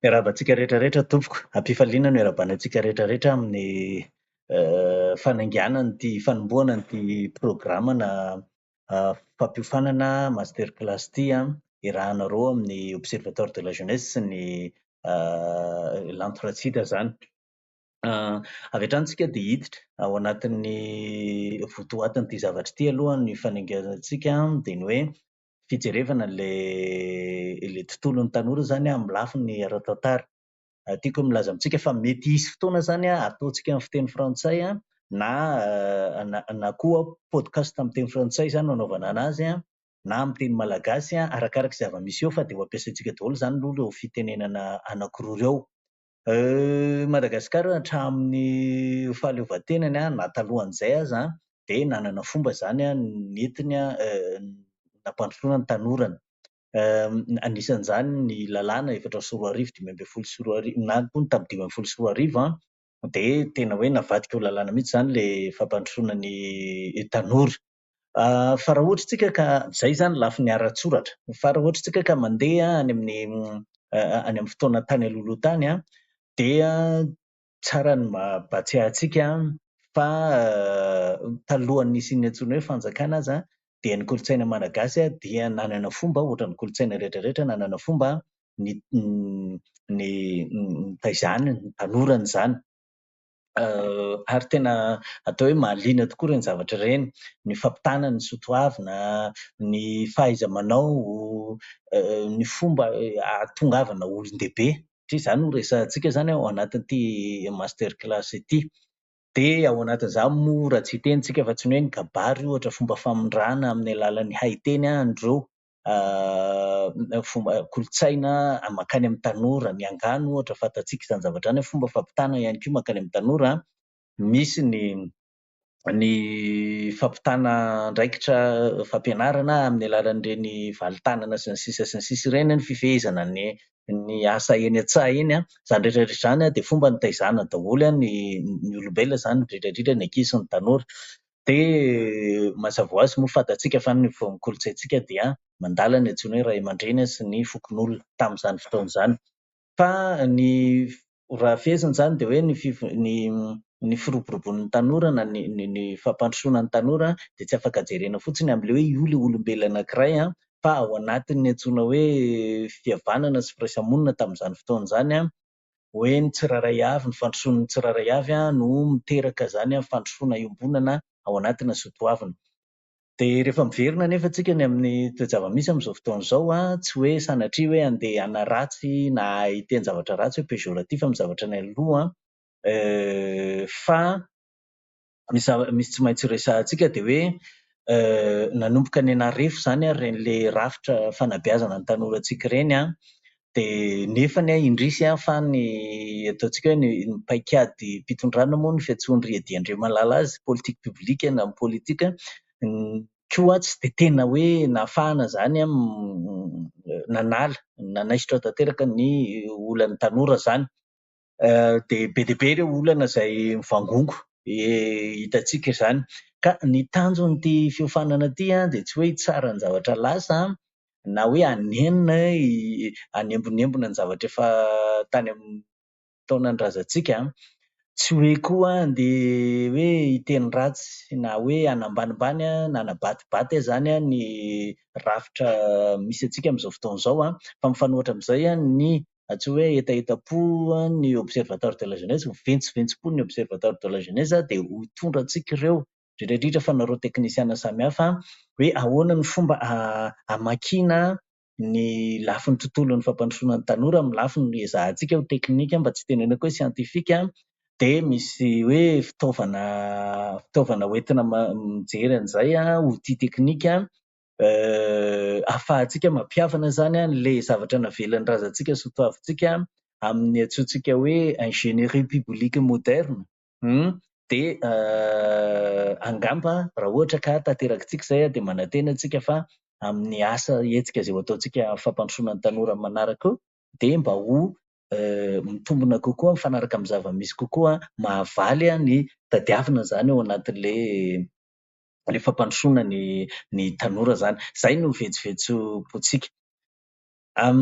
Miarahaba antsika rehetra rehetra tompoko, am-pifaliana no iarabana antsika rehetra rehetra amin'ny fanainganana ity fanombohana ity programana fampiofanana master class ity an, iarahanareo amin'ny observatoire de la jeunesse sy ny lanto ratsida izany. Avy hatrany isika dia hiditra ao anatin'ny votoatin'ity zavatra ity aloha ny fanekenantsika dia ny hoe fijerevana ilay tontolon'ny tanora izany amin'ny lafiny ara-tantara. Tiako ny hilaza amintsika fa mety hisy fotoana izany hataontsika amin'ny fiteny frantsay na na koa podcast amin'ny teny frantsay izany no hanaovana an'azy na amin'ny teny malagasy, arakaraka izay zava-misy eo fa dia ho ampiasaintsika daholo izany aloha ireo fitenenana anankiroa ireo. Madagasikara hatramin'ny fahaleovantenany na talohan'izay aza dia nanana fomba izany nentiny nampandrosoana ny tanorany. Anisan'izany ny lalàna efatra sy roa arivo, dimy ambin'ny folo sy roa arivo, na koa ny tamin'ny dimy ambin'ny folo sy roa arivo dia tena hoe navadika ho lalàna mihitsy izany ilay fampandrosoana ny tanora. Fa raha ohatra isika ka, izay izany lafiny ara-tsoratra. Fa raha ohatra isika ka mandeha any amin'ny any amin'ny fotoana tany alohaloha tany an, dia tsara ny mampahatsiahy antsika fa talohan'ny hisian'ny antsoina hoe fanjakana aza dia ny kolontsaina malagasy dia nanana fomba, ohatra ny kolontsaina rehetra rehetra, nanana fomba ny nitaizany, nitanorany izany. ary tena atao hoe mahaliana tokoa ireny zavatra ireny, ny fampitana ny soa toavina, ny fahaiza-manao, ny fomba ahatongavana ho olon-dehibe satria izany no resahantsika izany ao anatin'ity master class ity. Dia ao anatin'izany moa raha tsy hiteny isika fa tsy ny hoe ny kabary ohatra, fomba famindrana amin'ny alalan'ny haiteny andro ireo kolontsaina mankany amin'ny tanora, ny angano ohatra fantatsika izany zavatra izany, fomba fampitana ihany koa mankany amin'ny tanora, misy ny ny fampitana andraikitra fampianarana amin'ny alalan'ireny valintanana sy ny sisa sy ny sisa ireny, ny fifehezana ny ny asa eny an-tsaha eny, izany rehetra rehetra izany dia fomba nitaizana daholo ny ny olombelona izany indrindra indrindra ny ankizy sy ny tanora. Dia mazava ho azy moa fantatsika fa ny voan'ny kolontsaintsika dia mandala ny antsoina hoe ray aman-dreny sy ny fokonolona tamin'izany fotoana izany. Fa ny raha fehezina izany dia hoe ny fiv- ny ny firoborobon'ny tanora na ny ny ny fampandrosoana ny tanora dia tsy afaka jerena fotsiny amin'ilay hoe io ilay olombelona anankiray an, fa ao anatin'ny antsoina hoe fihavanana sy firaisamonina tamin'izany fotoana izany an, hoe ny tsirairay avy, ny fandrosoan'ny tsirairay avy no miteraka izany fandrosoana iombonana ao anatina sy ho toavina. Dia rehefa miverina anefa tsika ny amin'ny toe-javamisy amin'izao fotoana izao, tsy hoe sanatria hoe andeha hanaratsy na hiteny zavatra ratsy hoe péjoratif amin'ny zavatra nialoha fa ny zava-misy tsy maintsy resahantsika dia hoe nanomboka nianarefo izany ary ireny rafitra fanabeazana ny tanorantsika ireny an, dia nefany an indrisy an fa ny ataontsika hoe ny paikadim-pitondrana moa ny fiantsoan'i Ry Eddy Andriamalala azy politique publique na ny politika koa tsy dia tena hoe nahafahana izany an nanala, nanaisotra tanteraka ny olan'ny tanora izany. dia be dia be ireo olana izay mivangongo, hitantsika izany. Ka ny tanjon'ity fiofanana ity dia tsy hoe hitsara ny zavatra lasa na hoe hanenina, hanembonembona ny zavatra efa tany amin'ny taonan-drazantsika, tsy hoe koa handeha hoe hiteny ratsy na hoe hanambanimbany na hanabaty izany ny rafitra misy antsika amin'izao fotoana izao, fa mifanohitra amin'izay ny raha tsy hoe hetahetam-po ny Observatoire de la jeunesse, ho ventsiventsipo ny Observatoire de la jeunesse dia ho hitondra antsika ireo indrindra indrindra fa nareo teknisiana samihafa hoe ahoana ny fomba hamakiana ny lafiny tontolon'ny fampandrosoana ny tanora amin'ny lafiny ezahantsika ho teknika mba tsy hitenenako hoe siantifika dia misy hoe fitaovana fitaovana hoentina mijery an'izay, outils techniques. ahafahantsika mampihavana izany an'ilay zavatra navelan'ny razantsika sy ho toavintsika amin'ny antsointsika hoe ingénierie publique moderne hum dia angamba raha ohatra ka tanterakitsika izay dia manantena antsika fa amin'ny asa hetsika izay ho ataontsika fampandrosoana ny tanora amin'ny manaraka dia mba ho mitombona kokoa mifanaraka amin'ny zava-misy kokoa mahavaly ny tadiavina izany ao anatin'ilay le fampandrosoana ny ny tanora zany. Zay no vetsovetsom-pontsika. Am.